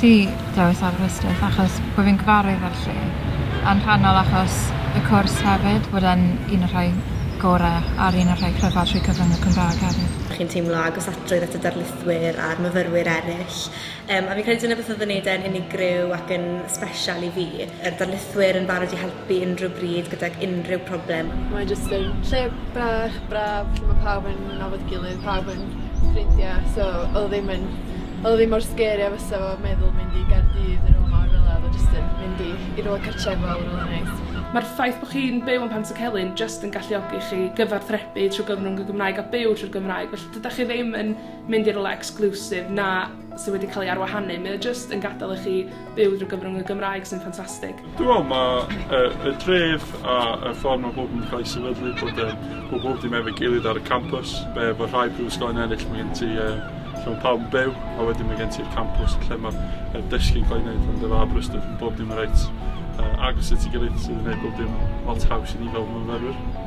ti dewis Aberystwyth achos bod fi'n gyfarwydd â'r lle a'n rhannol achos y cwrs hefyd bod e'n un o'r rhai gorau ar un o'r rhai cryfaf trwy cyfrwng y Cymraeg hefyd. Chi'n teimlo agosatrwydd at y darlithwyr a'r myfyrwyr eraill Yym a fi'n credu dyna beth o'dd yn neud e'n unigryw ac yn sbesial i fi. Yr darlithwyr yn barod i helpu unrhyw bryd gydag unrhyw problem. Mae jyst yn lle bach braf lle ma' pawb yn nabod 'i gilydd pawb yn ffrindia so odd o ddim yn odd o ddim mor sgeri a fysa fo meddwl mynd i Gaerdydd ne' rwla mawr fela odd o jyst yn mynd i i rwla cartrefol rwla neis. Ma'r ffaith bo' chi'n byw yn Pantycelyn jyst yn galluogi chi gyfathrebu trw gyfrwng y Gymraeg a byw trwy'r Gymraeg felly dydach chi ddim yn mynd i rywle exclusive na sydd wedi cael ei arwahanu, mae o jyst yn gadael i chi byw drwy gyfrwng y Gymraeg sy'n ffantastig. Dwi'n meddwl mae y, y dref a y ffordd mae bob yn cael ei sefydlu bod e, bod bob dim efo'i gilydd ar y campus, be efo rhai prifysgol yn ennill mae gen ti uh, lle mae pawb yn byw a wedyn mae gen ti'r campus lle mae'r dysgu'n cael ei wneud ond efo Aberystwyth yn bob dim yn reit uh, agos at ei gilydd sydd yn gwneud bob dim lot haws i ni fel myfyrwyr.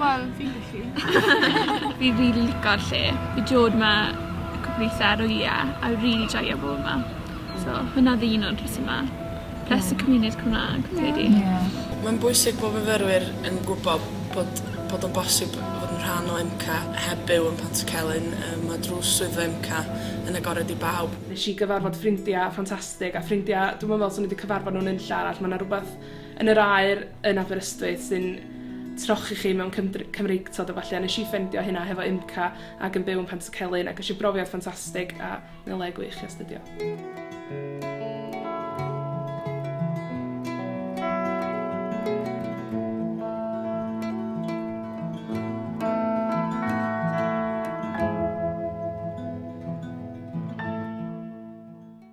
Wel fi'n gallu. Fi rili lico'r lle. Fi dod 'ma cwpwl withe ar wylie a rili joio bo' 'ma. So hwnna odd un o'r rhesyma. Plus y cymuned Cymra'g fi credu. Ie. Mae'n bwysig bo' fyfyrwyr yn gwbo bod bod o'n bosib fod yn rhan o MCA heb byw yn Pantycelyn. Yy ma' drws swyddfa MCA yn agored i bawb. Nesh i gyfarfod ffrindia ffantastig a ffrindia dwi'm yn me'wl swn i 'di cyfarfod nw nunlle arall ma' 'na rwbeth yn yr aer yn Aberystwyth sy'n trochi chi mewn cymdr- Cymreictod a ballu. A nes i ffendio hynna hefo UMCA ac yn byw yn Pantycelyn ac eisiau brofiad ffantastig a mae'n y le gwych i astudio.